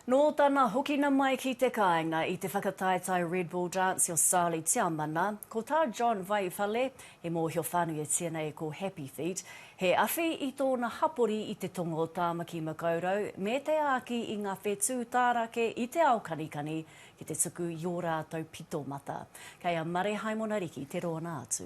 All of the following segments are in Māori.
Nō tana hokina mai ki te kāinga i te whakataetae Red Bull Dance o Sally Tiamana, ko tā John Vaiwhale, i mōhio whānuitia nei ko Happy Feet, he awhi i tōna hapori i te tonga o Tāmaki-makaurau me te āki i ngā whetū tārake i te ao kanikani ki te tuku i ō rātou pito mata. Kei a Mare Haimona Riki te rōna atu.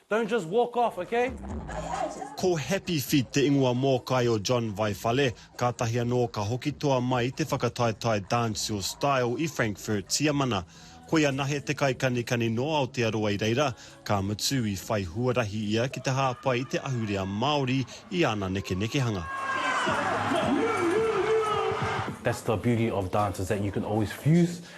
Don't just walk off, okay? Ko Happy Feet te ingoa mōkai o John Vai Whale, kātahi anō ka hoki toa mai te whakataetae dancehall style i Frankfurt, Tiamana. Ko ia nahe te kaikanikani nō Aotearoa i reira, ka mutu i whai huarahi ia ki te hāpai i te ahurea Māori i ana nekenekehanga. That's the beauty of dance is that you can always fuse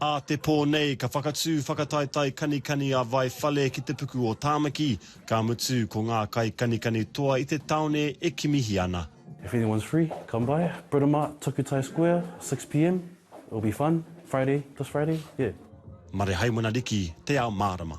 Ā te pō nei, ka whakatū whakataetae kanikani a Vai Whale ki te puku o Tāmaki, ka mutu ko ngā kaikanikani toa i te tāone e kimihi ana. If anyone's free, come by, Britomart, Takutai Square, six pm, it'll be fun, Friday, this Friday, yeah. Marehaimana Riki, Te Ao Mārama.